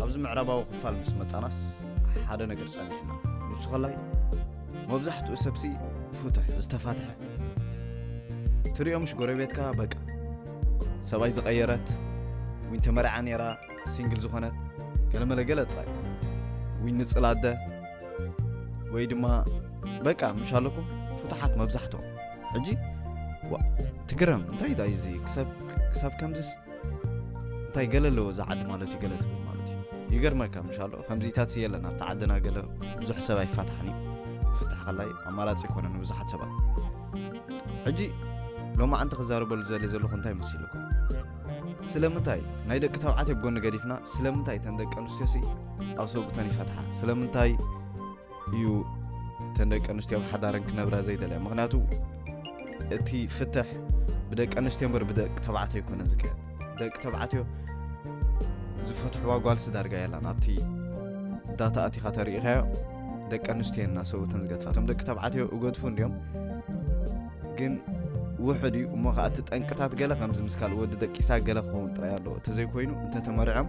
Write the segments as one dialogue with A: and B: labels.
A: ኣብዚ ምዕራባዊ ክፋል ምስ መጻናስ ሓደ ነገር ጸኒሕና ንሱ ከላይ መብዛሕትኡ ሰብሲ ፍቱሕ ዝተፋትሐ ትሪኦ ምሽ ጎረቤትካ በቃ ሰብኣይ ዝቐየረት ዊን ተመርዓ ነይራ ሲንግል ዝኾነት ገለመለ ገለ ጥራይ ዊን ንፅል ኣደ ወይ ድማ በቃ ምሽ ኣለኩም ፍቱሓት መብዛሕትኦም ሕጂ ትግረም እንታይ ዳይ እዚ ክሳብ ከምዚስ እንታይ ገለ ኣለዎ እዚ ዓዲ ማለት እዩ ገለ ትብል ማለት እዩ ይገርመካ ምሻሎ ከምዚታት የለን ኣብቲ ዓድና ገለ ብዙሕ ሰብ ኣይፋታሕን እዩ ፍታሕ ከላይ ኣማራፂ ይኮነ ንብዙሓት ሰባት ሕጂ ሎሚ ዓንቲ ክዛረበሉ ዘለ ዘለኹ እንታይ መሲልኩም ስለምንታይ ናይ ደቂ ተባዕትዮ ጎኒ ገዲፍና ስለምንታይ ተን ደቂ ኣንስትዮሲ ኣብ ሰብኡተን ይፈትሓ ስለምንታይ እዩ እተን ደቂ ኣንስትዮ ኣብ ሓዳረን ክነብራ ዘይደለያ ምክንያቱ እቲ ፍትሕ ብደቂ ኣንስትዮ እምበር ብደቂ ተባዕትዮ ኣይኮነ ዝካየድ ደቂ ተባዕትዮ ዝፈትሕዋ ጓልሲ ዳርጋ የላን ኣብቲ ዳታ ኣቲኻ ተሪኢኻዮ ደቂ ኣንስትዮ እና ሰብተን ዝገትፋ እቶም ደቂ ተባዕትዮ እገድፉ እንዲዮም ግን ውሕድ እዩ እሞ ከዓ እቲ ጠንቅታት ገለ ከምዚ ምስ ካልእ ወዲ ደቂሳ ገለ ክኸውን ጥራይ ኣለዎ እንተዘይኮይኑ እንተተመሪዖም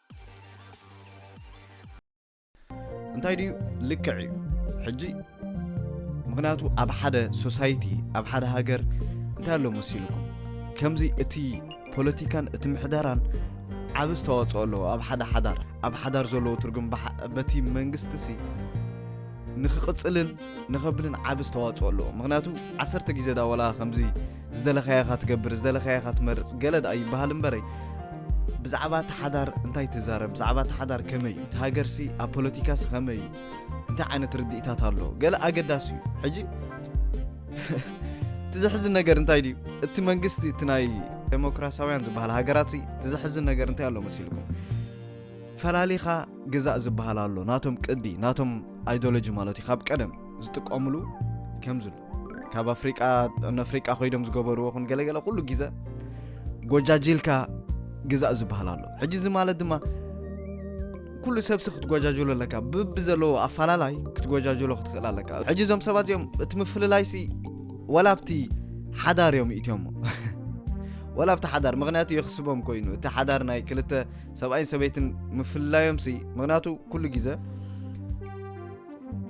A: እንታይ ድዩ ልክዕ እዩ ሕጂ ምክንያቱ ኣብ ሓደ ሶሳይቲ ኣብ ሓደ ሃገር እንታይ ኣሎ መሲልኩም ከምዚ እቲ ፖለቲካን እቲ ምሕደራን ዓብ ዝተዋፅኦ ኣለዎ ኣብ ሓደ ሓዳር ኣብ ሓዳር ዘለዎ ትርጉም በቲ መንግስቲ ሲ ንክቕፅልን ንኸብልን ዓብ ዝተዋፅኦ ኣለዎ ምክንያቱ ዓሰርተ ግዜ ዳወላ ከምዚ ዝደለኻዮ ኢኻ ትገብር ዝደለኻዮ ኢኻ ትመርጽ ገለ ደኣ ይበሃል እምበረይ ብዛዕባ እቲ ሓዳር እንታይ ትዛረብ ብዛዕባ እቲ ሓዳር ከመይ እዩ እቲ ሃገርሲ ኣብ ፖለቲካሲ ከመይ እዩ እንታይ ዓይነት ርድኢታት ኣሎ ገለ ኣገዳሲ እዩ ሕጂ እቲ ዘሕዝን ነገር እንታይ ድዩ እቲ መንግስቲ እቲ ናይ ዴሞክራሲያውያን ዝበሃል ሃገራት እቲ ዘሕዝን ነገር እንታይ ኣሎ መሲልኩም ፈላሊኻ ግዛእ ዝበሃል ኣሎ ናቶም ቅዲ ናቶም ኣይዶሎጂ ማለት እዩ ካብ ቀደም ዝጥቀምሉ ከምዚ ኣሎ ካብ ኣፍሪቃ ንኣፍሪቃ ኮይዶም ዝገበርዎ ኹን ገለገለ ኩሉ ግዘ ጎጃጅልካ ግዛእ ዝበሃል ኣሎ ሕጂ እዚ ማለት ድማ ኩሉ ሰብሲ ክትጎጃጀሎ ኣለካ ብቢ ዘለዎ ኣፈላላይ ክትጎጃጀሎ ክትኽእል ኣለካ ሕጂ እዞም ሰባት እዚኦም እቲ ምፍልላይሲ ወላ ኣብቲ ሓዳር እዮም ይእትዮሞ ወላ ኣብቲ ሓዳር ምክንያቱ የኽስቦም ኮይኑ እቲ ሓዳር ናይ ክልተ ሰብኣይን ሰበይትን ምፍልላዮምሲ ምክንያቱ ኩሉ ግዘ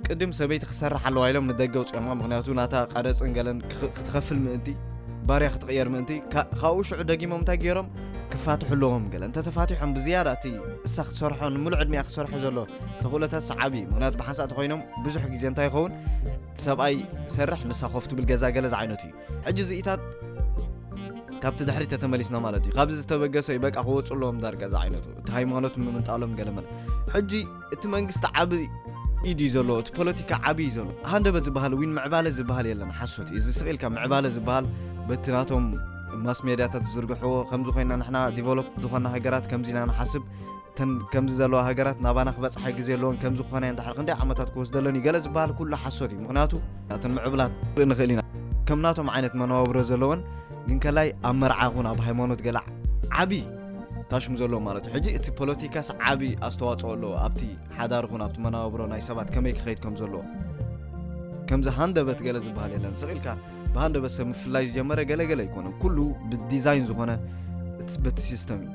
A: ቅድም ሰበይቲ ክትሰርሕ ኣለዋ ኢሎም ንደገ ኣውፅኦማ ምክንያቱ ናታ ቃረፅን ገለን ክኽ- ክትኸፍል ምእንቲ ባርያ ክትቕየር ምእንቲ ካ- ካብኡ ሽዑ ደጊሞም እንታይ ገይሮም ክፋትሑ ኣለዎም ገለ እንተተፋቲሖም ብዝያዳ እቲ እሳ ክትሰርሖ ንምሉእ ዕድሚኣ ክትሰርሖ ዘሎ ተኽእሎታት ሰዓቢ እዩ ምክንያቱ ብሓንሳእ ተኮይኖም ብዙሕ ግዜ እንታይ ይኸውን ሰብኣይ ሰርሕ ንሳ ኮፍ ትብል ገዛ ገለ ዝዓይነቱ እዩ ሕጂ እዚኢታት ካብቲ ድሕሪ ተተመሊስና ማለት እዩ ካብዚ ዝተበገሰ እዩ በቃ ክወፁ ኣለዎም ዳርጋ ዝዓይነቱ እቲ ሃይማኖት ምምንጣሎም ገለ መለ ሕጂ እቲ መንግስቲ ዓቢ ኢድ እዩ ዘለዎ እቲ ፖለቲካ ዓቢ እዩ ዘሎ ሃንደበት ዝበሃል እውን ምዕባለ ዝበሃል የለን ሓሶት እዩ እዚ ስቂልካ ምዕባለ ዝበሃል በቲ ናቶም ማስ ሜድያታት ዝዝርግሕዎ ከምዚ ኮይና ንሕና ዲቨሎፕ ዝኾና ሃገራት ከምዚ ኢና ንሓስብ እተን ከምዚ ዘለዋ ሃገራት ናባና ክበፅሓ ግዜ ኣለዎን ከምዚ ክኾነ እንድሕር ክንደይ ዓመታት ክወስደለን እዩ ገለ ዝበሃል ኩሉ ሓሶት እዩ ምክንያቱ ናተን ምዕብላት ርኢ ንኽእል ኢና ከም ናቶም ዓይነት መነባብሮ ዘለወን ግን ከላይ ኣብ መርዓ ይኹን ኣብ ሃይማኖት ገለ ዓብዪ ታሽሙ ዘሎ ማለት እዩ ሕጂ እቲ ፖለቲካስ ዓብዪ ኣስተዋፅኦ ኣለዎ ኣብቲ ሓዳር ኹን ኣብቲ መናባብሮ ናይ ሰባት ከመይ ክኸይድ ከም ዘለዎ ከምዚ ሃንደበት ገለ ዝበሃል የለን ስቕ ኢልካ ብሃንደበት ሰብ ምፍላይ ዝጀመረ ገለገለ ኣይኮነን ኩሉ ብዲዛይን ዝኾነ በቲ ሲስተም እዩ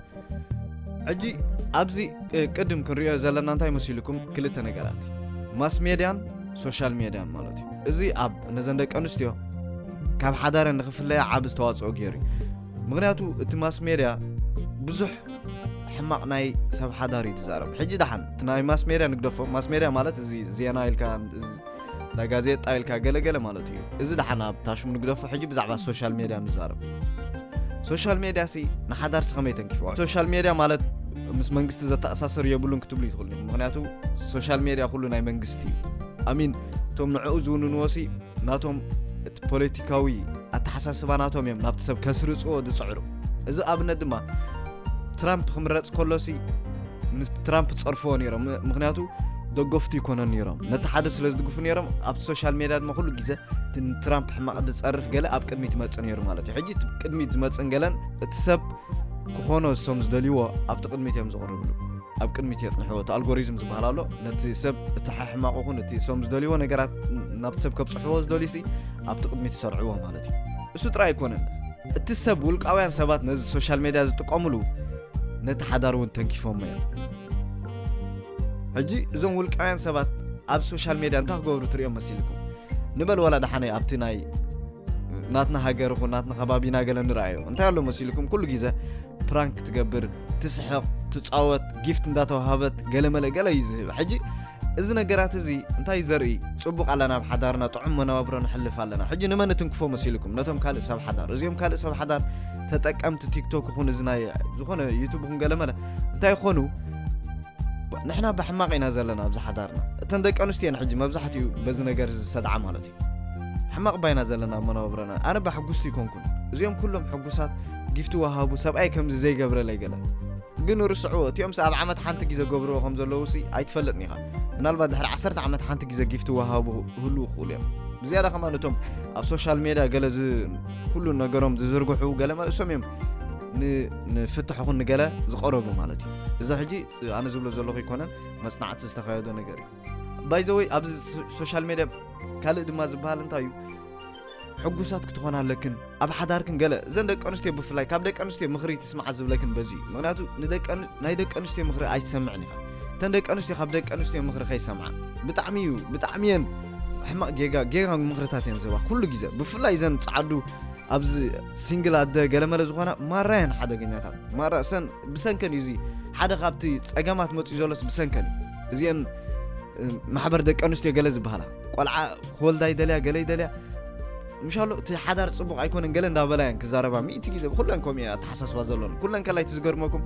A: ሕጂ ኣብዚ ቅድም ክንሪኦ ዘለና እንታይ መሲልኩም ክልተ ነገራት ማስ ሜድያን ሶሻል ሜድያን ማለት እዩ እዚ ኣብ ነዘን ደቂ ኣንስትዮ ካብ ሓዳረ ንክፍለያ ዓብ ዝተዋፅኦ ገይሩ እዩ ምክንያቱ እቲ ማስሜድያ ብዙሕ ሕማቅ ናይ ሰብ ሓዳር እዩ ዝዛረብ ሕጂ ደሓን እቲ ናይ ማስሜድያ ንግደፎ ማስሜድያ ማለት እዚ ዜና ኢልካ ናይ ጋዜጣ ኢልካ ገለገለ ማለት እዩ እዚ ደሓን ኣብ ታሽሙ ንግደፎ ሕጂ ብዛዕባ ሶሻል ሜድያ ንዛረብ ሶሻል ሜድያ ሲ ንሓዳርሲ ከመይ ተንኪፍዋ ሶሻል ሜድያ ማለት ምስ መንግስቲ ዘተኣሳሰር የብሉን ክትብሉ ይትኽእሉ ምክንያቱ ሶሻል ሜድያ ኩሉ ናይ መንግስቲ እዩ ኣሚን እቶም ንዕኡ ዝውንንዎ ሲ ናቶም እቲ ፖለቲካዊ ኣተሓሳስባ ናቶም እዮም ናብቲ ሰብ ከስርጽዎ ዝጽዕሩ እዚ ኣብነት ድማ ትራምፕ ክምረጽ ከሎሲ ንትራምፕ ጸርፍዎ ነይሮም ምክንያቱ ደገፍቱ ይኮነ ነይሮም ነቲ ሓደ ስለ ዝድግፉ ነይሮም ኣብቲ ሶሻል ሜድያ ድማ ኩሉ ግዜ ንትራምፕ ሕማቕ ዝፀርፍ ገለ ኣብ ቅድሚት ይመፅእ ነይሩ ማለት እዩ ሕጂ ቅድሚት ዝመፅእን ገለን እቲ ሰብ ክኾኖ እሶም ዝደልይዎ ኣብቲ ቅድሚት እዮም ዝቕርብሉ ኣብ ቅድሚት የፅንሕዎ እቲ ኣልጎሪዝም ዝበሃል ኣሎ ነቲ ሰብ እቲ ሓሕማቑ ኹን እቲ እሶም ዝደልይዎ ነገራት ናብቲ ሰብ ከብፅሕዎ ዝደልዩ ሲ ኣብቲ ቅድሚት ይሰርዕዎ ማለት እዩ እሱ ጥራይ ኣይኮነን እቲ ሰብ ውልቃውያን ሰባት ነዚ ሶሻል ሜድያ ዝጥቀምሉ ነቲ ሓዳር እውን ተንኪፎሞ እዮም ሕጂ እዞም ውልቃውያን ሰባት ኣብ ሶሻል ሜድያ እንታይ ክገብሩ ትሪኦም መሲልኩም ንበል ዋላ ደሓነ ኣብቲ ናይ ናትና ሃገር ይኹን ናትና ከባቢና ገለ ንረኣዮ እንታይ ኣሎ መሲልኩም ኩሉ ግዜ ፕራንክ ትገብር ትስሕቕ ትፃወት ጊፍት እንዳተዋሃበት ገለመለ ገለ እዩ ዝህብ ሕጂ እዚ ነገራት እዚ እንታይ ዘርኢ ፅቡቅ ኣለና ኣብ ሓዳርና ጥዑም መነባብሮ ንሕልፍ ኣለና ሕጂ ንመን እትንክፎ መሲልኩም ነቶም ካልእ ሰብ ሓዳር እዚኦም ካልእ ሰብ ሓዳር ተጠቀምቲ ቲክቶክ ይኹን እዚ ናይ ዝኾነ ዩቱብ ይኹን ገለመለ እንታይ ይኾኑ ንሕና ብሕማቕ ኢና ዘለና ኣብዚ ሓዳርና እተን ደቂ ኣንስትዮ እየን ሕጂ መብዛሕትኡ በዚ ነገር እዚ ዝሰድዓ ማለት እዩ ሕማቕ ባይና ዘለና ኣብ መነባብረና ኣነ ባሕጉስቲ ይኮንኩን እዚኦም ኩሎም ሕጉሳት ጊፍቲ ወሃቡ ሰብኣይ ከምዚ ዘይገብረለይ ገለ ግን ርስዕዎ እቲኦም ሲ ኣብ ዓመት ሓንቲ ግዜ ገብርዎ ከም ዘለዉ ሲ ኣይትፈልጥን ኢኻ ምናልባት ድሕሪ ዓሰርተ ዓመት ሓንቲ ግዜ ጊፍቲ ወሃቡ ህሉ ክኽእሉ እዮም ብዝያዳ ከማ እቶም ኣብ ሶሻል ሜድያ ገለ ኩሉ ነገሮም ዝዝርግሑ ገለ መልእሶም እዮም ንፍትሕ ኹን ንገለ ዝቐረቡ ማለት እዩ እዚ ሕጂ ኣነ ዝብሎ ዘለኹ ይኮነን መፅናዕቲ ዝተካየዶ ነገር እዩ ባይዘወይ ኣብዚ ሶሻል ሜድያ ካልእ ድማ ዝበሃል እንታይ እዩ ሕጉሳት ክትኾና ኣለክን ኣብ ሓዳርክን ገለ እዘን ደቂ ኣንስትዮ ብፍላይ ካብ ደቂ ኣንስትዮ ምኽሪ ትስምዓ ዝብለክን በዚ እዩ ምክንያቱ ናይ ደቂ ኣንስትዮ ምኽሪ ኣይትሰምዕን ኢኻ እተን ደቂ ኣንስትዮ ካብ ደቂ ኣንስትዮ ምኽሪ ከይሰምዓ ብጣዕሚ እዩ ብጣዕሚ እየን ሕማቅ ጌጋ ጌጋ ምኽርታት እየን ዝህባ ኩሉ ግዜ ብፍላይ እዘን ፀዓዱ ኣብዚ ሲንግል ኣደ ገለመለ ዝኾና ማራ የን ሓደገኛታት ማራ ሰን ብሰንከን እዩ እዚ ሓደ ካብቲ ፀገማት መፅኡ ዘሎስ ብሰንከን እዩ እዚአን ማሕበር ደቂ ኣንስትዮ ገለ ዝበሃላ ቆልዓ ክወልዳ ይደልያ ገለ ይደልያ ምሻሎ እቲ ሓዳር ፅቡቕ ኣይኮነን ገለ እንዳበላ እየን ክዛረባ ሚእቲ ግዜ ብኩለን ከምኡ ኣተሓሳስባ ዘሎን ኩለን ከላይ እቲ ዝገርመኩም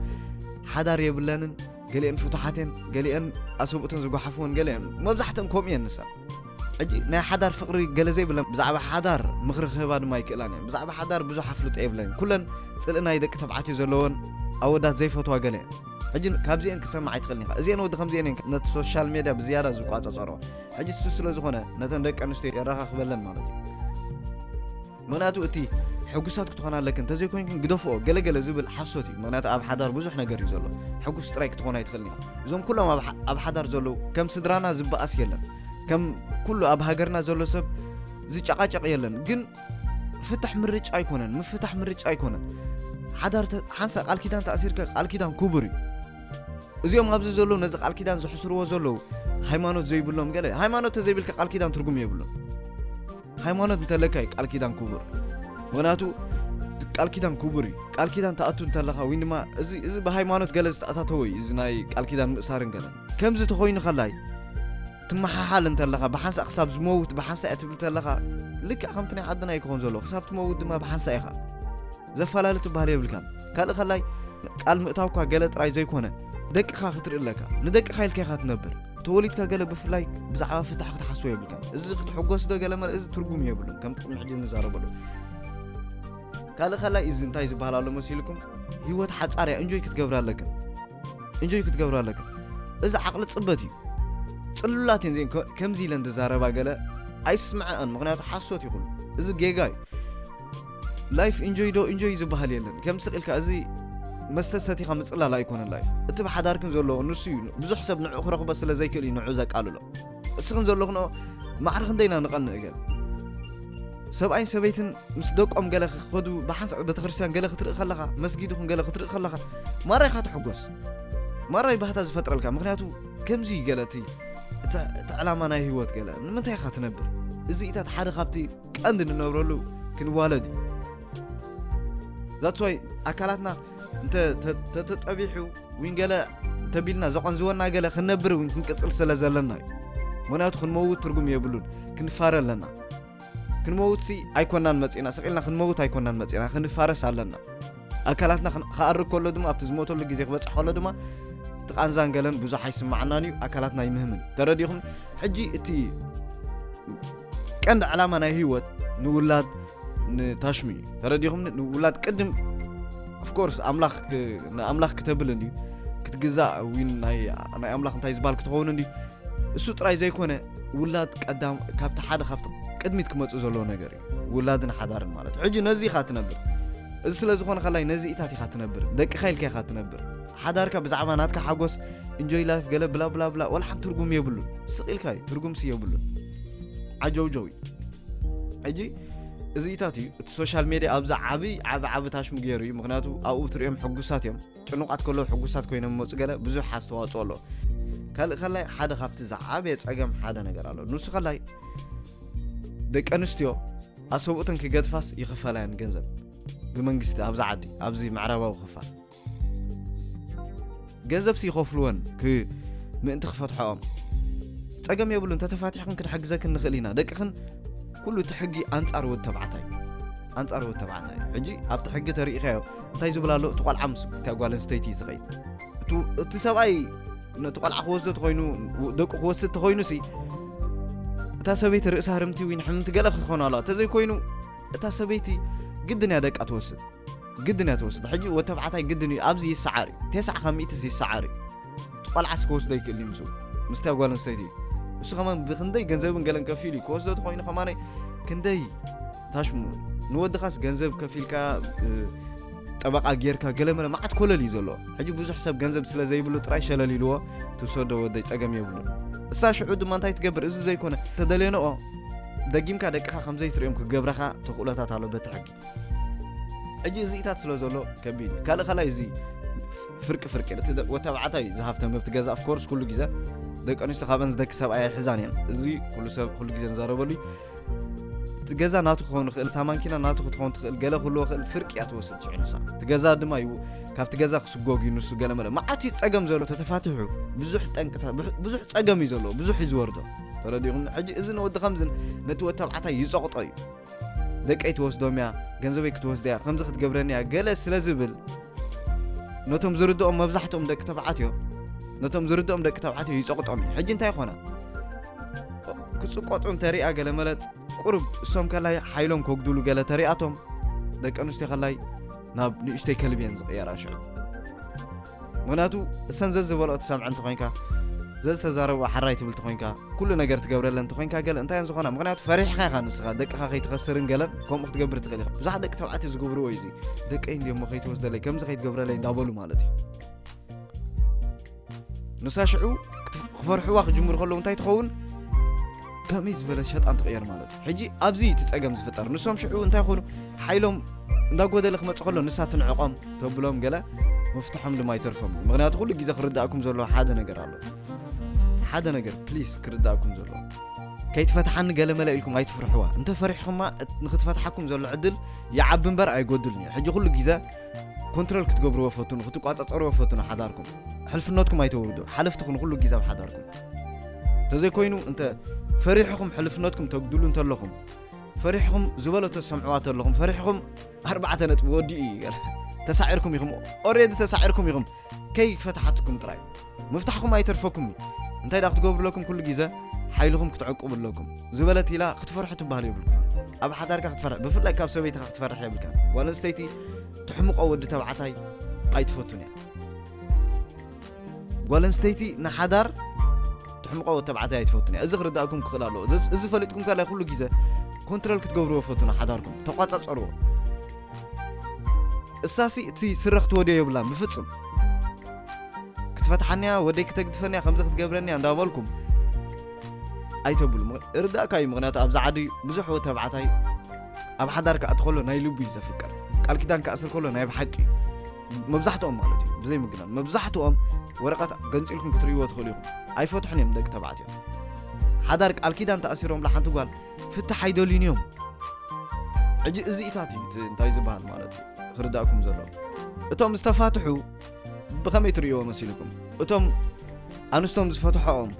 A: ሓዳር የብለንን ገሊአን ፍቱሓት እየን ገሊአን ኣሰብኡተን ዝጓሓፍወን ገለ እየን መብዛሕተን ከምኡ እየን ንሳ ሕጂ ናይ ሓዳር ፍቅሪ ገለ ዘይብለን ብዛዕባ ሓዳር ምኽሪ ክህባ ድማ ኣይክእላን እየን ብዛዕባ ሓዳር ብዙሕ ኣፍልጦ የብለንን ኩለን ጽልኢ ናይ ደቂ ተባዕትዮ ዘለወን ኣወዳት ዘይፈትዋ ገለ እየን ሕጂ ካብዚኤን ክሰማዕ ኣይትኽእልን ኢኻ እዚኤን ወዲ ከምዚኤን እየን ነቲ ሶሻል ሜድያ ብዝያዳ ዝቋጸጸሮ ሕጂ እሱ ስለ ዝኾነ ነተን ደቂ ኣንስትዮ የራኻኽበለን ማለት እዩ ምክንያቱ እቲ ሕጉሳት ክትኾና ኣለክን እንተዘይኮይንክን ግደፍኦ ገለ ገለ ዝብል ሓሶት እዩ ምክንያቱ ኣብ ሓዳር ብዙሕ ነገር እዩ ዘሎ ሕጉስ ጥራይ ክትኾን ኣይትኽእልን ኢኻ እዞም ኩሎም ኣብ ሓ- ኣብ ሓዳር ዘለዉ ከም ስድራና ዝበኣስ የለን ከም ኩሉ ኣብ ሃገርና ዘሎ ሰብ ዝጨቃጨቅ የለን ግን ፍታሕ ምርጫ ኣይኮነን ምፍታሕ ምርጫ ኣይኮነን ሓዳር ተ- ሓንሳ ቃል ኪዳን ተኣሲርካ ቃል ኪዳን ክቡር እዩ እዚኦም ኣብዚ ዘለዉ ነዚ ቃል ኪዳን ዘሕስርዎ ዘለዉ ሃይማኖት ዘይብሎም ገለ ሃይማኖት ተዘይብልካ ቃል ኪዳን ትርጉም የብሉን ሃይማኖት እንተለካ እዩ ቃል ኪዳን ኩቡር ምክንያቱ ቃል ኪዳን ኩቡር እዩ ቃል ኪዳን ተኣቱ እንተለካ ወይ ድማ እዚ እዚ ብሃይማኖት ገለ ዝተኣታተወ እዩ እዚ ናይ ቃል ኪዳን ምእሳርን ገለ ከምዚ ተኮይኑ ከላይ ትመሓሓል እንተለካ ብሓንሳእ ክሳብ ዝመውት ብሓንሳእ እያ ትብል ተለካ ልክዕ ከምቲ ናይ ዓድና እዩ ክኾን ዘለዎ ክሳብ ትመውት ድማ ብሓንሳእ ኢኻ ዘፋላሊ ትባሃል የብልካን ካልእ ከላይ ቃል ምእታውካ ገለ ጥራይ ዘይኮነ ደቅኻ ክትርኢ ኣለካ ንደቅኻ ኢልካ ኢኻ ትነብር ተወሊድካ ገለ ብፍላይ ብዛዕባ ፍታሕ ክትሓስቦ የብልካ እዚ ክትሕጎስ ዶ ገለ መርእ እዚ ትርጉም የብሉን ከም ጥቅሚ ሕጂ ንዛረበሉ ካልእ ከላይ እዚ እንታይ ዝበሃል ኣሎ መሲልኩም ህይወት ሓፃር እያ እንጆይ ክትገብር ኣለካ እንጆይ ክትገብር ኣለካ እዚ ዓቕሊ ፅበት እዩ ፅሉላት እየን እዚን ከምዚ ኢለን ዝዛረባ ገለ ኣይስምዐአን ምክንያቱ ሓሶት ይኹሉ እዚ ጌጋ እዩ ላይፍ ኢንጆይ ዶ ኢንጆይ ዝበሃል የለን ከም ስቕ ኢልካ እዚ መስተ ሰቲኻ ምጽላል ኣይኮነን ላይፍ እቲ ብሓዳርክን ዘሎ ንሱ እዩ ብዙሕ ሰብ ንዕኡ ክረኽቦ ስለ ዘይክእል እዩ ንዑ ዘቃልሎ እስኽን ዘለኽንኦ ማዕረ ክንደይና ንቐንእ ገል ሰብኣይን ሰበይትን ምስ ደቆም ገለ ክኸዱ ብሓንሳእ ቤተክርስትያን ገለ ክትርኢ ከለኻ መስጊድ ይኹን ገለ ክትርኢ ከለኻ ማራ ኢኻ ትሕጎስ ማራ እዩ ባህታ ዝፈጥረልካ ምክንያቱ ከምዚ እዩ ገለ እቲ እቲ ዕላማ ናይ ህይወት ገለ ንምንታይ ኢኻ ትነብር እዚኢታት ሓደ ካብቲ ቀንዲ ንነብረሉ ክንዋለድ እዩ ዛትስዋይ ኣካላትና እንተተጠቢሑ ውን ገለ እንተቢልና ዘቐንዝወና ገለ ክንነብር እውን ክንቅፅል ስለ ዘለና እዩ ምክንያቱ ክንመውት ትርጉም የብሉን ክንፋረ ኣለና ክንመውት ሲ ኣይኮናን መፅና ስቂልና ክንመውት ኣይኮናን መፅና ክንፋረስ ኣለና ኣካላትና ክኣርግ ከሎ ድማ ኣብቲ ዝሞተሉ ግዜ ክበፅሕ ከሎ ድማ እቲ ቃንዛን ገለን ብዙሕ ኣይስማዓናን እዩ ኣካላትና ይምህምን ተረዲኹም ሕጂ እቲ ቀንዲ ዕላማ ናይ ህይወት ንውላድ ንታሽሙ እዩ ተረዲኹም ንውላድ ቅድም ኣፍኮርስ ኣምላኽ ንኣምላኽ ክተብል እንድዩ ክትግዛእ ዊን ናይ ኣምላኽ እንታይ ዝበሃል ክትኸውን እንድዩ እሱ ጥራይ ዘይኮነ ውላድ ቀዳም ካብቲ ሓደ ካብቲ ቅድሚት ክመፅእ ዘለዎ ነገር ውላድን ሓዳርን ማለት እዩ ሕጂ ነዚ ኢኻ ትነብር እዚ ስለ ዝኾነ ከላይ ነዚ ኢታት ኢኻ ትነብር ደቅኻ ኢልካ ኢኻ ትነብር ሓዳርካ ብዛዕባ ናትካ ሓጎስ እንጆይ ላይፍ ገለ ብላ ብላ ብላ ወላ ሓንቲ ትርጉም የብሉን ስቕ ኢልካ እዩ ትርጉምሲ የብሉን ዓጀውጀው እዩ ሕጂ እዚ ኢታት እዩ እቲ ሶሻል ሜድያ ኣብዛ ዓብይ ዓብ ዓብ ታሽሙ ገይሩ እዩ ምክንያቱ ኣብኡ ትሪኦም ሕጉሳት እዮም ጭኑቓት ከለዉ ሕጉሳት ኮይኖም ይመጹ ገለ ብዙሕ ኣስተዋጽኦ ኣሎ ካልእ ከላይ ሓደ ካብቲ ዝዓበየ ጸገም ሓደ ነገር ኣሎ ንሱ ከላይ ደቂ ኣንስትዮ ኣሰብኡተን ክገድፋስ ይኽፈላየን ገንዘብ ብመንግስቲ ኣብዚ ዓዲ ኣብዚ ምዕራባዊ ክፋል ገንዘብ ይኸፍልወን ምእንቲ ክፈትሐኦም ፀገም የብሉ እንተተፋቲሕክን ክንሕግዘክን ንኽእል ኢና ደቅኽን ኩሉ እቲ ሕጊ ኣንፃር ወድ ተባዕታይ ኣንፃር ወድ ተባዕታይ ሕጂ ኣብቲ ሕጊ ተሪኢኻዮ እንታይ ዝብል ኣሎ እቲ ቆልዓ ምስ እታ ጓል ኣንስተይቲ እዩ ዝኸይድ እቱ- እቲ ሰብኣይ ነቲ ቆልዓ ክወስዶ ተኮይኑ ደቁ ክወስድ ተኮይኑ ሲ እታ ሰበይቲ ርእሳ ህርምቲ ወይ ንሕምምቲ ገለ ክኾኑ ኣለዋ እንተዘይኮይኑ እታ ሰበይቲ ግድን እያ ደቃ ትወስድ ግድን እያ ትወስድ ሕጂ ወተብዓታይ ግድን እዩ ኣብዚ ይሰዓር እዩ 9 ካብ ሚእትስ ይሰዓር እዩ ቆልዓስ ክወስዶ ይክእል እዩ ምስኡ ምስታ ጓል ኣንስተይቲ እዩ እሱ ከማ ብክንደይ ገንዘብን ገለን ከፊሉ እዩ ክወስዶ ተኮይኑ ከማ ክንደይ ታሽሙ ንወድኻስ ገንዘብ ከፊልካ ጠበቃ ጌርካ ገለመለ መዓት ኮለል እዩ ዘለዎ ሕጂ ብዙሕ ሰብ ገንዘብ ስለ ዘይብሉ ጥራይ ሸለል ኢልዎ ትውሰዶ ወደይ ፀገም የብሉ እሳ ሽዑ ድማ እንታይ ትገብር እዚ ዘይኮነ ተደልየንኦ ደጊምካ ደቅኻ ከምዘይትሪኦም ክገብረኻ ተኽእሎታት ኣሎ በቲ ሕጊ ሕጂ እዚኢታት ስለ ዘሎ ከቢድ እዩ ካልእ ካልይ እዚ ፍርቂ ፍርቂ እቲ ወተባዕታይ እዩ ዝሃፍተም መብቲ ገዛ ኣፍኮርስ ኩሉ ግዜ ደቂ ኣንስትዮ ካብን ዝደኪ ሰብ ኣይሕዛን እየን እዚ ኩሉ ሰብ ኩሉ ግዜ ንዛረበሉ እቲ ገዛ ናቱ ክኸውን ይኽእል እታ ማንኪና ናቱ ክትኸውን ትኽእል ገለ ክህልዎ ክእል ፍርቂ እያ ትወስድ ሽዑ ንሳ እቲ ገዛ ድማ እዩ ካብቲ ገዛ ክስጎግ እዩ ንሱ ገለ መለ መዓት እዩ ፀገም ዘሎ ተተፋትሑ ብዙሕ ጠንቅታ ብዙሕ ፀገም እዩ ዘለዎ ብዙሕ እዩ ዝወርዶ ተረዲኹም ሕጂ እዚ ንወዲ ከምዝን ነቲ ወተባዕታይ ይፀቕጦ እዩ ደቀይ ትወስዶም እያ፣ ገንዘበይ ክትወስድ እያ፣ ከምዚ ክትገብረኒ እያ ገለ ስለ ዝብል ነቶም ዝርድኦም መብዛሕትኦም ደቂ ተባዕትዮ ነቶም ዝርድኦም ደቂ ተባዕትዮ ይጸቕጦም እዩ ሕጂ እንታይ ኮነ ክጽቆጡ እንተሪኣ ገለ መለጥ ቁርብ እሶም ከላይ ሓይሎም ከጉድሉ ገለ ተሪኣቶም ደቂ ኣንስትዮ ከላይ ናብ ንእሽተይ ከልቢ እየን ዝቕየራ ሽዑ ምክንያቱ እሰን ዘዝበልኦ ትሰምዐ እንተኮይንካ ዘዝተዛረብኦ ሓራይ ትብል ተኮይንካ ኩሉ ነገር ትገብረለን ተኮይንካ ገለ እንታይ ዝኾና ምክንያቱ ፈሪሕካ ኢኻ ንስኻ ደቅኻ ከይትኸስርን ገለን ከምኡ ክትገብር ትኽእል ኢኻ ብዙሓት ደቂ ተባዕትዮ ዝገብርዎ እዩ ደቀይ እንዲሞ ከይትወስደለይ ከምዚ ከይትገብረለይ እንዳበሉ ማለት እዩ ንሳ ሽዑ ክፈርሕዋ ክጅምሩ ከለዉ እንታይ ትኸውን ከመይ ዝበለ ሸጣን ትቕየር ማለት እዩ ሕጂ ኣብዚ እቲ ጸገም ዝፍጠር ንሶም ሽዑ እንታይ ኮኑ ሓይሎም እንዳጎደለ ክመጽእ ከሎ ንሳ ትንዕቆም ተብሎም ገለ ምፍትሖም ድማ ይተርፎም እዩ ምክንያቱ ኩሉ ግዜ ክርዳእኩም ዘለዎ ሓደ ነገር ኣሎ ሓደ ነገር ፕሊስ ክርዳእኩም ዘለዎ ከይትፈትሓኒ ገለ መለ ኢልኩም ኣይትፍርሕዋ እንተ ፈሪሕኹማ ንክትፈትሓኩም ዘሎ ዕድል ይዓቢ እምበር ኣይጎድልን እዩ ሕጂ ኩሉ ግዜ ኮንትሮል ክትገብርዎ ፈትኑ ክትቋፀፀርዎ ፈትኑ ሓዳርኩም ሕልፍነትኩም ኣይተውርዱ ሓለፍቲ ኩኑ ኩሉ ግዜ ኣብ ሓዳርኩም ተዘይኮይኑ እንተ ፈሪሕኹም ሕልፍነትኩም ተጉድሉ እንተለኹም ፈሪሕኹም ዝበሎ ተሰምዕዋ ተለኹም ፈሪሕኹም ኣርባዕተ ነጥቢ ወዲኡ እዩ ገለ ተሳዒርኩም ኢኹም ኦሬዲ ተሳዒርኩም ኢኹም ከይፈታሓትኩም ጥራይ ምፍታሕኩም ኣይተርፈኩም እዩ እንታይ ዳ ክትገብሩ ኣለኩም ኩሉ ግዜ ሓይልኹም ክትዕቅቡ ኣለኩም ዝበለት ኢላ ክትፈርሑ ትበሃል የብልኩም ኣብ ሓዳርካ ክትፈርሕ ብፍላይ ካብ ሰበይትኻ ክትፈርሕ የብልካ ጓል ኣንስተይቲ ትሕምቆ ወዲ ተባዕታይ ኣይትፈቱን እያ ጓል ኣንስተይቲ ንሓዳር ትሕምቆ ወዲ ተባዕታይ ኣይትፈቱን እያ እዚ ክርዳእኩም ክኽእል ኣለዎ እዚ- እዚ ፈሊጥኩም ካልያ ኩሉ ግዜ ኮንትሮል ክትገብርዎ ፈቱኑ ሓዳርኩም ተቋጻጸርዎ እሳሲ እቲ ስረ ክትወድዮ የብላን ብፍጹም ክትፈትሓንያ ወደይ ክተግድፈንያ ከምዚ ክትገብረንያ እንዳበልኩም ኣይተብሉ ምክ- እርዳእካ እዩ ምክንያቱ ኣብዚ ዓዲ ብዙሕ ወዲ ተባዕታይ ኣብ ሓዳር ክኣቲ ከሎ ናይ ልቡ እዩ ዘፍቅር ቃል ኪዳን ክኣስር ከሎ ናይ ብሓቂ እዩ መብዛሕትኦም ማለት እዩ ብዘይ ምግናን መብዛሕትኦም ወረቀት ገንፂልኩም ክትርእይዎ ትኽእሉ ኢኹም ኣይፈትሑን እዮም ደቂ ተባዕትዮ ሓዳር ቃል ኪዳን ተኣሲሮምላ ሓንቲ ጓል ፍትሕ ኣይደልዩን እዮም ሕጂ እዚኢታት እዩ እንታይ ዝበሃል ማለት እዩ ክርዳእኩም ዘሎ እቶም ዝተፋትሑ ብኸመይ ትርእይዎ መሲልኩም እቶም ኣንስቶም ዝፈትሖኦም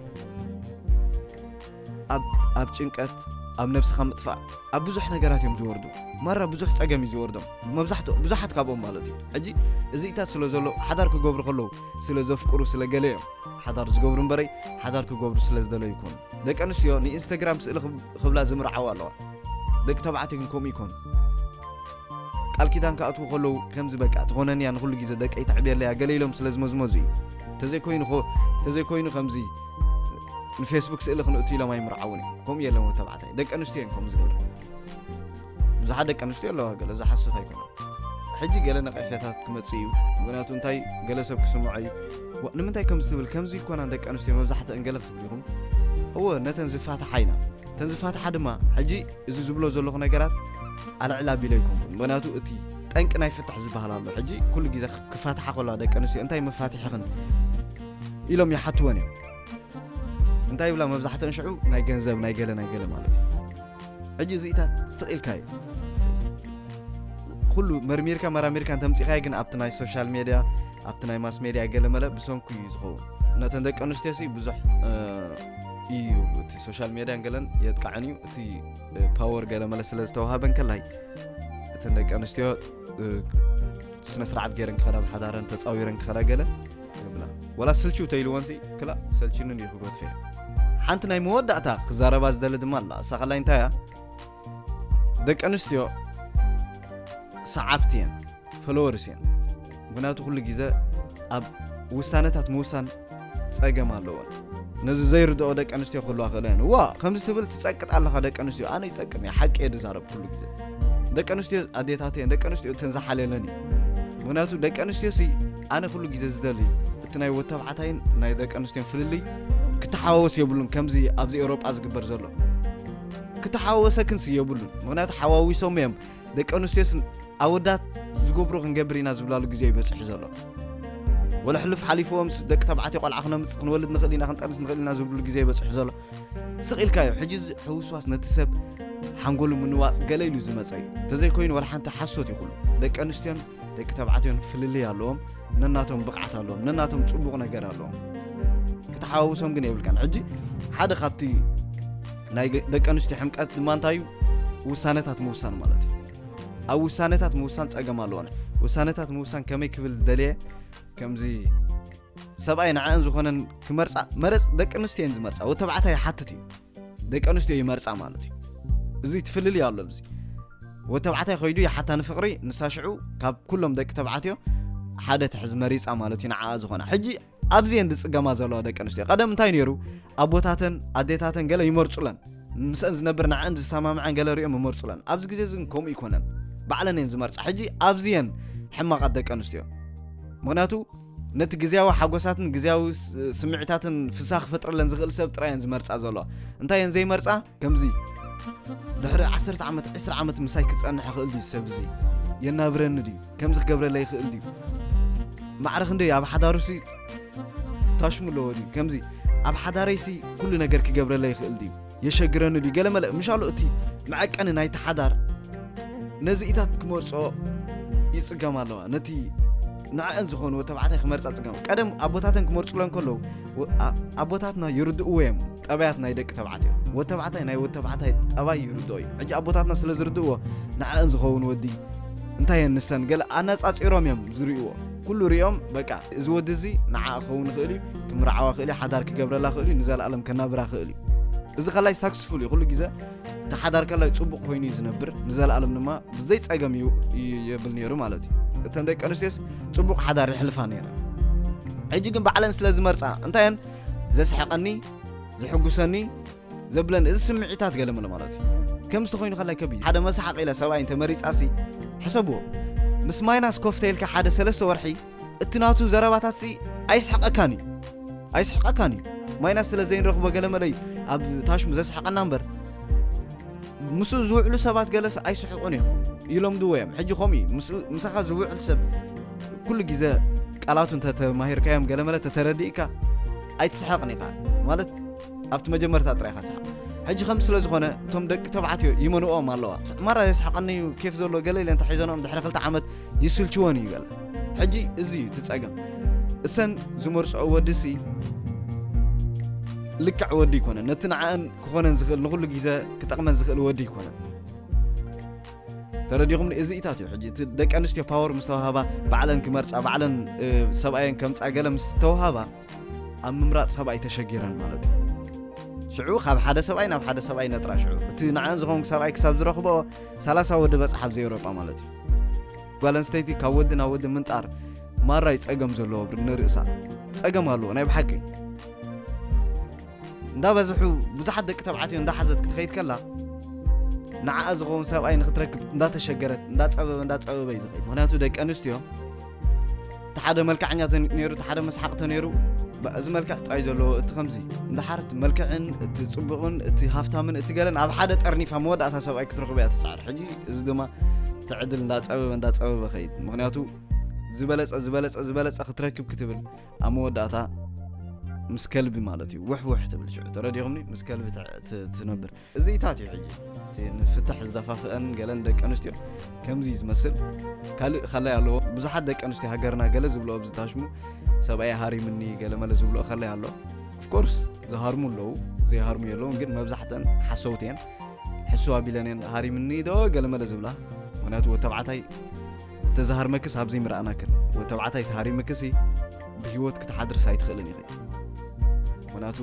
A: ኣብ ጭንቀት ኣብ ነብስኻ ምጥፋእ ኣብ ብዙሕ ነገራት እዮም ዝወርዱ ማራ ብዙሕ ፀገም እዩ ዝወርዶም መብዛሕትኦ ብዙሓት ካብኦም ማለት እዩ ሕጂ እዚኢታት ስለ ዘሎ ሓዳር ክገብሩ ከለዉ ስለ ዘፍቅሩ ስለ ገለ እዮም ሓዳር ዝገብሩ እምበረይ ሓዳር ክገብሩ ስለ ዝደለዩ ይኮኑ ደቂ ኣንስትዮ ንኢንስታግራም ስእሊ ክብላ ዝምርዓዋ ኣለዋ ደቂ ተባዕትዮ ግን ከምኡ ይኮኑ ቃል ኪዳን ክኣትዉ ከለዉ ከምዚ በቃ ትኾነንያ ንኩሉ ግዜ ደቀይ ተዕብየለያ ገለ ኢሎም ስለ ዝመዝመዙ እዩ ተዘይኮይኑ ተዘይኮይኑ ከምዚ ንፌስቡክ ስእሊ ክንእቱ ኢሎም ኣይምርዓውን እዮም ከምኡ የለም ወዲ ተባዕታይ ደቂ ኣንስትዮ እዮም ከምኡ ዝገብረ ብዙሓት ደቂ ኣንስትዮ ኣለዋ ገለ ዝሓሶት ኣይኮነ ሕጂ ገለ ነቐፌታት ክመፅእ እዩ ምክንያቱ እንታይ ገለ ሰብ ክስምዖ እዩ ንምንታይ ከምዚ ትብል ከምዚ ይኮና ደቂ ኣንስትዮ መብዛሕተአን ገለ ክትብል ኢኹም እወ ነተን ዝፋትሓ ኢና እተን ዝፋትሓ ድማ ሕጂ እዚ ዝብሎ ዘለኹ ነገራት ኣልዕላ ቢሎ ኣይኮንኩን ምክንያቱ እቲ ጠንቂ ናይ ፍትሕ ዝበሃል ኣሎ ሕጂ ኩሉ ግዜ ክፋትሓ ከለዋ ደቂ ኣንስትዮ እንታይ መፋትሕኽን ኢሎም ይሓትወን እዮም እንታይ ይብላ መብዛሕተን ሽዑ ናይ ገንዘብ ናይ ገለ ናይ ገለ ማለት እዩ ሕጂ እዚኢታት ስቕኢልካ እዩ ኩሉ መርሚርካ መራሚርካ እንተምፂኻዮ ግን ኣብቲ ናይ ሶሻል ሜድያ ኣብቲ ናይ ማስ ሜድያ ገለ መለ ብሰንኩ እዩ ዝኸውን ነተን ደቂ ኣንስትዮ ሲ ብዙሕ እዩ እቲ ሶሻል ሜድያን ገለን የጥቃዕን እዩ እቲ ፓወር ገለ መለ ስለ ዝተዋሃበን ከላይ እተን ደቂ ኣንስትዮ ስነ ስርዓት ገይረን ክኸዳ ብሓዳረን ተፃዊረን ክኸዳ ገለ ክብላ ወላ ስልችው ተይልወንሲ ክላ ሰልችንን እዩ ክብሎ ትፈ ሓንቲ ናይ መወዳእታ ክዛረባ ዝደሊ ድማ ኣላ እሳ ከላይ እንታይ እያ ደቂ ኣንስትዮ ሰዓብቲ እየን ፈለወርስ እየን ምክንያቱ ኩሉ ግዜ ኣብ ውሳነታት ምውሳን ፀገም ኣለዎን ነዚ ዘይርድኦ ደቂ ኣንስትዮ ክህልዋ ክእለ እየን ዋ ከምዚ ትብል ትፀቅጥ ኣለካ ደቂ ኣንስትዮ ኣነ ይፀቅም እየ ሓቂ እየ ዝዛረብ ኩሉ ግዜ ደቂ ኣንስትዮ ኣዴታት እየን ደቂ ኣንስትዮ እተን ዝሓለለን እዩ ምክንያቱ ደቂ ኣንስትዮ ኣነ ኩሉ ግዜ ዝደሊ እቲ ናይ ወተብዓታይን ናይ ደቂ ኣንስትዮን ፍልልይ ክተሓዋወስ የብሉን ከምዚ ኣብዚ ኤውሮጳ ዝግበር ዘሎ ክተሓዋወሰክንሲ የብሉን ምክንያቱ ሓዋዊሶም እዮም ደቂ ኣንስትዮስን ኣወዳት ዝገብሩ ክንገብር ኢና ዝብላሉ ግዜ እዩ በፅሑ ዘሎ ወላ ሕሉፍ ሓሊፍዎም ደቂ ተባዕትዮ ቆልዓ ክነምፅ ክንወልድ ንኽእል ኢና ክንጠንስ ንኽእል ኢና ዝብሉ ግዜ በፅሑ ዘሎ ስቕ ኢልካ እዩ ሕጂ ሕውስዋስ ነቲ ሰብ ሓንጎሉ ምንዋፅ ገለ ኢሉ ዝመፀ እዩ እንተዘይኮይኑ ወላ ሓንቲ ሓሶት ይኹሉ ደቂ ኣንስትዮን ደቂ ተባዕትዮን ፍልልይ ኣለዎም ነናቶም ብቕዓት ኣለዎም ነናቶም ፅቡቕ ነገር ኣለዎም ክትሓዋውሶም ግን የብልካን ሕጂ ሓደ ካብቲ ናይ ደቂ ኣንስትዮ ሕምቀት ድማ እንታይ እዩ ውሳነታት ምውሳን ማለት እዩ ኣብ ውሳነታት ምውሳን ፀገም ኣለዎን ውሳነታት ምውሳን ከመይ ክብል ደልየ ከምዚ ሰብኣይ ንዐን ዝኾነን ክመርፃ መረፅ ደቂ ኣንስትዮ እየን ዝመርፃ ወተባዕታይ ይሓትት እዩ ደቂ ኣንስትዮ ይመርፃ ማለት እዩ እዚ ትፍልልይ ኣሎ ብዚ ወዲ ተባዕታይ ኮይዱ ይሓታ ንፍቅሪ ንሳ ሽዑ ካብ ኩሎም ደቂ ተባዕትዮ ሓደ ትሕዝ መሪፃ ማለት እዩ ንዓኣ ዝኾና ሕጂ ኣብዚ እየን ዝፅገማ ዘለዋ ደቂ ኣንስትዮ ቀደም እንታይ ነይሩ ኣቦታተን ኣዴታተን ገለ ይመርፁለን ምስአን ዝነብር ንዐን ዝሰማምዐን ገለ ሪኦም ይመርፁለን ኣብዚ ግዜ እዚ ግን ከምኡ ይኮነን ባዕለን እየን ዝመርፃ ሕጂ ኣብዚ እየን ሕማቃት ደቂ ኣንስትዮ ምክንያቱ ነቲ ግዝያዊ ሓጎሳትን ግዝያዊ ስምዒታትን ፍሳ ክፈጥረለን ዝኽእል ሰብ ጥራይ እየን ዝመርጻ ዘሎ እንታይ እየን ዘይመርጻ ከምዚ ድሕሪ ዓሰርተ ዓመት ዕስራ ዓመት ምሳይ ክጸንሕ ይኽእል ድዩ ሰብ እዚ የናብረኒ ድዩ ከምዚ ክገብረለይ ይኽእል ድዩ ማዕረ ክንደይ ኣብ ሓዳሩሲ ታሽሙ ኣለዎ ድዩ ከምዚ ኣብ ሓዳረይሲ ኩሉ ነገር ክገብረለይ ይኽእል ድዩ የሸግረኒ ድዩ ገለ መለ ምሻሉ እቲ መዐቀኒ ናይቲ ሓዳር ነዚኢታት ክመርጾ ይጽገም ኣለዋ ነቲ ንዕአን ዝኾንዎ ተባዕታይ ክመርፃ ፅገም ቀደም ኣቦታተን ክመርፁለን ከለዉ ኣቦታትና ይርድእዎ እዮም ጠባያት ናይ ደቂ ተባዕትዮ ወድ ተባዕታይ ናይ ወድ ተባዕታይ ጠባይ ይርድኦ እዩ ሕጂ ኣቦታትና ስለ ዝርድእዎ ንዕአን ዝኸውን ወዲ እንታይ እየን ንሰን ገለ ኣነፃፂሮም እዮም ዝርእዎ ኩሉ ሪኦም በቃ እዚ ወዲ እዚ ንዓ ክኸውን ይኽእል እዩ ክምርዓዋ ክእል እዩ ሓዳር ክገብረላ ክእል እዩ ንዘለኣለም ከናብራ ክእል እዩ እዚ ከላይ ሳክስፉል እዩ ኩሉ ግዜ እቲ ሓዳር ከላይ ፅቡቕ ኮይኑ እዩ ዝነብር ንዘለኣለም ድማ ብዘይ ፀገም እዩ የብል ነይሩ ማለት እዩ እተን ደቂ ኣንስትዮስ ፅቡቕ ሓዳር ይሕልፋ ነይረ ሕጂ ግን ባዕለን ስለ ዝመርፃ እንታየን ዘስሐቐኒ ዝሕጉሰኒ ዘብለን እዚ ስምዒታት ገለመለ ማለት እዩ ከም ዝተኮይኑ ከላይ ከብ ሓደ መሳሓቕ ኢለ ሰብኣይ እንተመሪፃሲ ሕሰብዎ ምስ ማይናስ ኮፍተይልካ ሓደ ሰለስተ ወርሒ እቲ ናቱ ዘረባታትሲ ኣይስሕቐካን እዩ ኣይስሕቐካን እዩ ማይናስ ስለ ዘይንረኽቦ ገለመለ እዩ ኣብ ታሽሙ ዘስሕቐና እምበር ምስኡ ዝውዕሉ ሰባት ገለሰ ኣይስሕቑን እዮም ይለምድዎ እዮም ሕጂ ከምኡ እዩ ምሳኻ ዝውዕል ሰብ ኩሉ ግዜ ቃላቱ እንተተማሂርካዮም ገለመለ ተተረዲእካ ኣይትስሐቕን ኢኻ ማለት ኣብቲ መጀመርታ ጥራይ ኢኻ ትስሕቕ ሕጂ ከምዚ ስለ ዝኾነ እቶም ደቂ ተባዕትዮ ይመንኦም ኣለዋ ማራ የስሓቐኒ እዩ ኬፍ ዘሎ ገለ ኢለ እንተሒዘንኦም ድሕሪ ክልተ ዓመት ይስልችወን እዩ ገለ ሕጂ እዚ እዩ እቲ ጸገም እሰን ዝመርጽኦ ወዲሲ ልክዕ ወዲ ይኮነን ነቲ ንዓእን ክኾነን ዝኽእል ንኹሉ ግዜ ክጠቕመን ዝኽእል ወዲ ይኮነን ተረዲኹም እዚ ኢታት እዩ ሕጂ እቲ ደቂ ኣንስትዮ ፓወር ምስ ተዋሃባ ባዕለን ክመርፃ ባዕለን ሰብኣየን ከምፃ ገለ ምስ ተዋሃባ ኣብ ምምራጽ ሰብኣይ ተሸጊረን ማለት እዩ ሽዑ ካብ ሓደ ሰብኣይ ናብ ሓደ ሰብኣይ ነጥራ ሽዑ እቲ ንዓን ዝኸውን ሰብኣይ ክሳብ ዝረኽቦ ሰላሳ ወዲ በፅሓ ኣብ ዘኤውሮጳ ማለት እዩ ጓል ኣንስተይቲ ካብ ወዲ ናብ ወዲ ምንጣር ማራይ ጸገም ዘለዎ ንርእሳ ጸገም ኣለዎ ናይ ብሓቂ እንዳበዝሑ ብዙሓት ደቂ ተባዕትዮ እንዳሓዘት ክትኸይድ ከላ ንዓኣ ዝኸውን ሰብኣይ ንክትረክብ እንዳተሸገረት እንዳፀበበ እንዳፀበበ እዩ ዝኸይድ ምክንያቱ ደቂ ኣንስትዮ እቲ ሓደ መልክዐኛ ነይሩ እቲ ሓደ መስሓቕ ተነይሩ እዚ መልክዕ ጥራይ ዘለዎ እቲ ከምዚ እንድሓር እቲ መልክዕን እቲ ፅቡቕን እቲ ሃፍታምን እቲ ገለን ኣብ ሓደ ጠርኒፋ መወዳእታ ሰብኣይ ክትረኽበ እያ ትፅዓር ሕጂ እዚ ድማ ትዕድል እንዳፀበበ እንዳፀበበ ከይድ ምክንያቱ ዝበለፀ ዝበለፀ ዝበለፀ ክትረክብ ክትብል ኣብ መወዳእታ ምስ ከልቢ ማለት እዩ ውሕውሕ ትብል ሽዑ ተረዲኹምኒ ምስ ከልቢ ትነብር እዚታት እዩ ሕጂ እቲ ንፍትሕ ዝደፋፍአን ገለን ደቂ ኣንስትዮ ከምዚ እዩ ዝመስል ካልእ ከላይ ኣለዎ ብዙሓት ደቂ ኣንስትዮ ሃገርና ገለ ዝብልኦ ብዝታሽሙ ሰብኣይ ሃሪምኒ ገለመለ ዝብልኦ ከላይ ኣሎ ኦፍኮርስ ዝሃርሙ ኣለዉ ዘይሃርሙ የለውን ግን መብዛሕተን ሓሰውት እየን ሕሱ ኣቢለን እየን ሃሪምኒ ዶ ገለመለ ዝብላ ምክንያቱ ተባዕታይ ተዝሃርመክስ ኣብዘይ ምረኣናክን ወተባዕታይ ተሃሪምክሲ ብሂወት ክትሓድርስ ኣይትኽእልን ኢኺ ምክንያቱ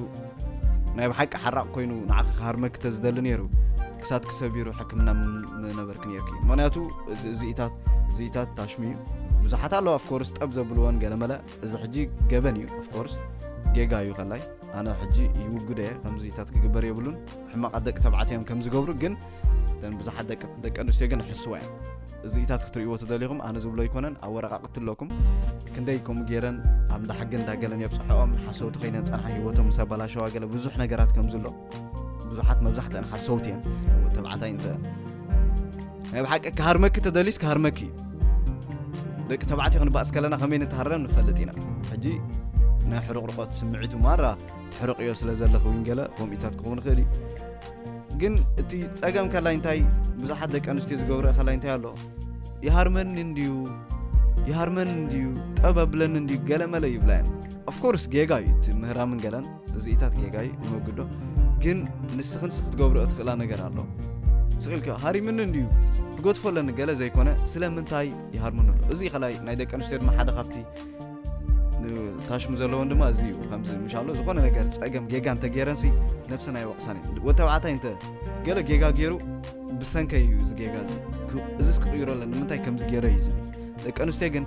A: ናይ ብሓቂ ሓራቕ ኮይኑ ንዓኺ ክሃርመኪ ተዝደሊ ነይሩ ክሳትኪ ሰቢሩ ሕክምና ምነበርኪ ነይርኪ ምክንያቱ እዚኢታት እዚኢታት ታሽሚ እዩ ብዙሓት ኣለዋ ኣፍኮርስ ጠብ ዘብልወን ገለመለ እዚ ሕጂ ገበን እዩ ኣፍኮርስ ጌጋ እዩ ከላይ ኣነ ሕጂ ይውግደ እየ ከምዚታት ክግበር የብሉን ሕማቓት ደቂ ተባዕትዮም ከም ዝገብሩ ግን እተን ብዙሓት ደቂ ኣንስትዮ ግን ሕስዋ እየን እዚኢታት ክትርእይዎ ተደሊኹም ኣነ ዝብሎ ኣይኮነን ኣብ ወረቃቅቲ ኣለኩም ክንደይ ከምኡ ገይረን ኣብ እንዳ ሕጊ እንዳገለን የብፅሐኦም ሓሰውቲ ኮይነን ፀንሓ ሂወቶም ምስ ኣባላሸዋ ገለ ብዙሕ ነገራት ከምዚ ኣሎ ብዙሓት መብዛሕተን ሓሰውቲ እየን ተባዕታይ እንተ ናይ ብሓቂ ክሃርመኪ ተደልዩስ ክሃርመኪ እዩ ደቂ ተባዕትዮ ክንባእስ ከለና ከመይ ንተሃረም ንፈልጥ ኢና ሕጂ ናይ ሕርቕርቆት ስምዒቱ ማራ ትሕርቕዮ ስለ ዘለኹ እውን ገለ ከምኡታት ክኸውን ይኽእል እዩ ግን እቲ ጸገም ከላይ እንታይ ብዙሓት ደቂ ኣንስትዮ ዝገብረ ከላይ እንታይ ኣሎ ይሃርመኒ እንድዩ ይሃርመኒ እንድዩ ጠብ ኣብለኒ እንድዩ ገለ መለ ይብላ እየን ኦፍኮርስ ጌጋ እዩ እቲ ምህራምን ገለን እዚኢታት ጌጋ እዩ ንወግዶ ግን ንስኽን ስ ክትገብሮ እትኽእላ ነገር ኣሎ ስቕኢልከ ሃሪምኒ እንድዩ ክገድፎ ኣለኒ ገለ ዘይኮነ ስለምንታይ ይሃርምኑ ኣሎ እዚ ከላይ ናይ ደቂ ኣንስትዮ ድማ ሓደ ካብቲ ታሽሙ ዘለውን ድማ እዚ እዩ ከምዚ ምሻሎ ዝኾነ ነገር ፀገም ጌጋ እንተገይረንሲ ነብሰን ኣይወቕሳን እዩ ወዲ ተባዕታይ እንተ ገለ ጌጋ ገይሩ ብሰንከ እዩ እዚ ጌጋ እዚ እዚስ ክቕይሮ ኣለ ንምንታይ ከምዚ ገይረ እዩ ዝብል ደቂ ኣንስትዮ ግን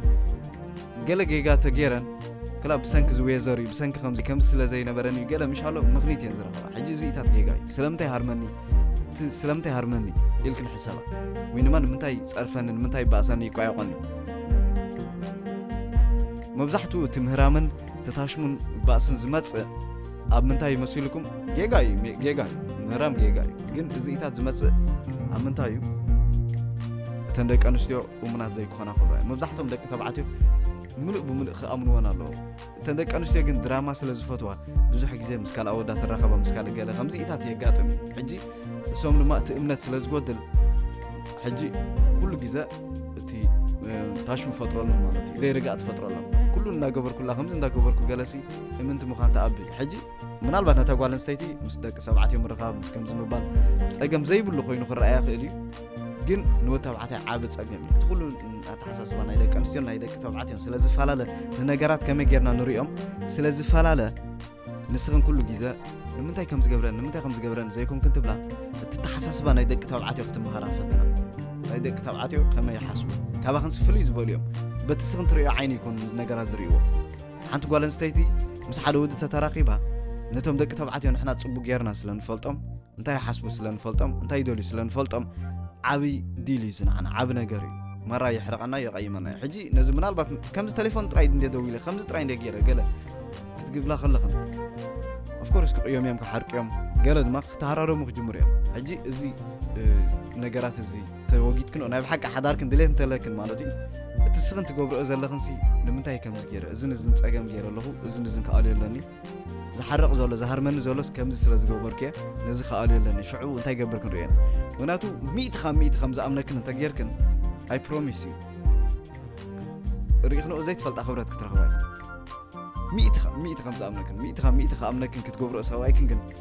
A: ገለ ጌጋ ተገይረን ክላ ብሰንኪ ዝወዘር እዩ ብሰንኪ ከምዚ ከምዚ ስለ ዘይነበረን እዩ ገለ ምሻሎ ምኽኒት እየን ዝረኸባ ሕጂ እዚ እታት ጌጋ እዩ ስለምንታይ ሃርመኒ ስለምንታይ ሃርመኒ ኢልክን ሕሰባ ወይ ድማ ንምንታይ ፀርፈኒ ንምንታይ ባእሳኒ ይቋየቆኒ መብዛሕትኡ እቲ ምህራምን ተታሽሙን ባእስን ዝመጽእ ኣብ ምንታይ መሲልኩም ጌጋ እዩ ጌጋ እዩ ምህራም ጌጋ እዩ ግን እዚኢታት ዝመጽእ ኣብ ምንታይ እዩ እተን ደቂ ኣንስትዮ እሙናት ዘይክኾና ከሎ መብዛሕቶም ደቂ ተባዕትዮ ምሉእ ብምሉእ ክኣምንዎን ኣለዎ እተን ደቂ ኣንስትዮ ግን ድራማ ስለ ዝፈትዋ ብዙሕ ግዜ ምስ ካልእ ኣወዳ ትራኸባ ምስ ካልእ ገለ ከምዚኢታት የጋጥም እዩ ሕጂ እሶም ድማ እቲ እምነት ስለ ዝጎድል ሕጂ ኩሉ ግዜ እቲ ታሽሙ ፈጥረሎም ማለት እዩ ዘይርጋእ ትፈጥረሎም ኩሉ እናገበርኩላ ከምዚ እንዳገበርኩ ገለሲ እምንቲ ምዃን ተኣብል ሕጂ ምናልባት ነታ ጓል ኣንስተይቲ ምስ ደቂ ሰብዓትዮ ምርኻብ ምስ ከምዚ ምባል ጸገም ዘይብሉ ኮይኑ ክረኣያ ክእል እዩ ግን ንወድ ተባዕታይ ዓቢ ጸገም እዩ እቲ ኩሉ ኣተሓሳስባ ናይ ደቂ ኣንስትዮ ናይ ደቂ ተባዕትዮን ስለ ዝፈላለ ንነገራት ከመይ ጌርና ንሪኦም ስለ ዝፈላለ ንስኽን ኩሉ ግዜ ንምንታይ ከም ዝገብረን ንምንታይ ከም ዝገብረን ዘይኮንክን ትብላ እቲ ተሓሳስባ ናይ ደቂ ተባዕትዮ ክትምሃራ ፈትና ናይ ደቂ ተባዕትዮ ከመይ ይሓስቡ ካባኽን ስፍል እዩ ዝበሉ እዮም በቲ ስኽን ትሪኦ ዓይኒ ይኮኑ ነገራት ዝርእይዎ ሓንቲ ጓል ኣንስተይቲ ምስ ሓደ ወዲ ተተራኺባ ነቶም ደቂ ተባዕትዮ ንሕና ፅቡቅ ጌርና ስለ ንፈልጦም እንታይ ይሓስቡ ስለ ንፈልጦም እንታይ ይደልዩ ስለ ንፈልጦም ዓብይ ዲል እዩ ዝንዓና ዓብ ነገር እዩ መራ የሕርቐና የቐይመና እዩ ሕጂ ነዚ ምናልባት ከምዚ ቴሌፎን ጥራይ እንደ ደው ኢለ ከምዚ ጥራይ እንደ ገይረ ገለ ክትግብላ ከለኽን ኦፍኮርስ ክቕዮም እዮም ክሓርቅዮም ገለ ድማ ክተሃራረሙ ክጅምሩ እዮም ሕጂ እዚ ነገራት እዚ ተወጊድክን ናይ ብሓቂ ሓዳርክን ድሌት እንተለክን ማለት እዩ እቲ ስኽን ትገብርኦ ዘለኽንሲ ንምንታይ ከምዚ ገይረ እዝን እዝን ፀገም ገይረ ኣለኹ እዝን እዝን ክኣልዮ ኣለኒ ዝሓረቕ ዘሎ ዝሃርመኒ ዘሎስ ከምዚ ስለ ዝገበርኩ እየ ነዚ ክኣልዮ ኣለኒ ሽዑ እንታይ ገብር ክንሪኦን ምክንያቱ ሚእቲ ካብ ሚእቲ ከም ዝኣምነክን እንተጌርክን ኣይ ፕሮሚስ እዩ ርኢኽንኦ ዘይትፈልጣ ክብረት ክትረኽባ ኢኹም ሚእቲ ካብ ሚእቲ ከም ዝኣምነክን ሚእቲ ካብ ሚእቲ ክኣምነክን ክትገብርኦ ሰብኣይክን ግን